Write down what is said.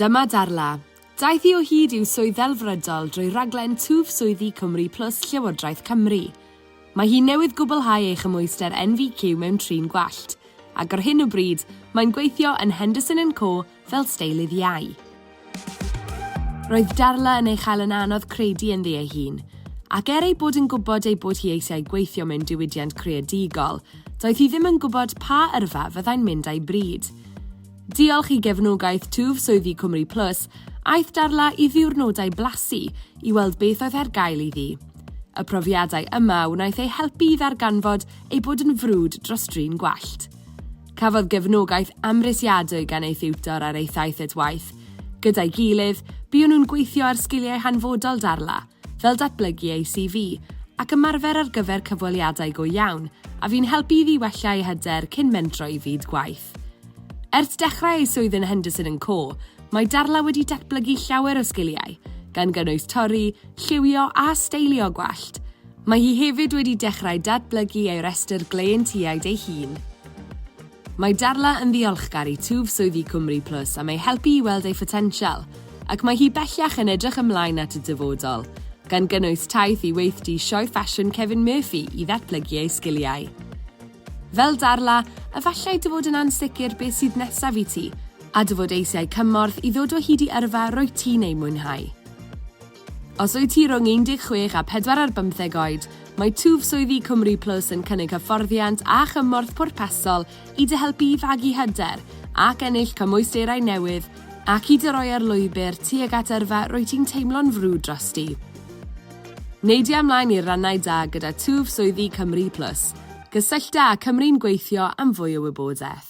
Dyma Darla. Daeth hi o hyd i'w swydd ddelfrydol drwy raglen Twf Swyddi Cymru Plus Llywodraeth Cymru. Mae hi newydd gwblhau ei chymhwyster NVQ mewn trin gwallt, ac ar hyn o bryd, mae'n gweithio yn Henderson and Co fel steilydd iau. Roedd Darla yn ei chael yn anodd credu ynddi ei hun, ac er ei bod yn gwybod ei bod hi eisiau gweithio mewn diwydiant creadigol, doedd hi ddim yn gwybod pa yrfa fyddai'n mynd â'i bryd. Diolch i gefnogaeth twf swyddi Cymru Plus, aeth Darla i ddiwrnodau blasu i weld beth oedd ar gael iddi. Y profiadau yma wnaeth ei helpu i ddarganfod ei bod yn frwd dros drin gwallt. Cafodd gefnogaeth amhrisiadwy gan ei thiwtor ar ei thaith at waith. Gyda'i gilydd, buon nhw'n gweithio ar sgiliau hanfodol Darla, fel datblygu ei CV, ac ymarfer ar gyfer cyfweliadau go iawn, a fu'n helpu iddi wella ei hyder cyn mentro i fyd gwaith. Ers dechrau ei swydd yn Henderson and Co, mae Darla wedi datblygu llawer o sgiliau, gan gynnwys torri, lliwio a steilio gwallt. Mae hi hefyd wedi dechrau datblygu ei restr gleientiaid ei hun. Mae Darla yn ddiolchgar i twf swyddi Cwmri Plus am ei helpu i weld ei photensial, ac mae hi bellach yn edrych ymlaen at y dyfodol, gan gynnwys taith i weithdy Sioe Ffasiwn Kevin Murphy i ddatblygu ei sgiliau. Fel Darla, efallai dy fod yn ansicr beth sydd nesaf i ti, a dy fod eisiau cymorth i ddod o hyd i yrfa rwyt ti'n ei mwynhau. Os wyt ti rhwng 16 a 4 ar bymtheg oed, mae twf swyddi Cymru Plus yn cynnig hyfforddiant a chymorth pwrpasol i dy helpu i fagu hyder ac ennill cymwysterau newydd ac i dy roi ar lwybr tuag at yrfa rwyt ti'n teimlo'n frwd drosti. Neidia ymlaen i'r rannau da gyda twf swyddi Cymru Plus. Gysyllta â Cymru'n Gweithio am fwy o wybodaeth.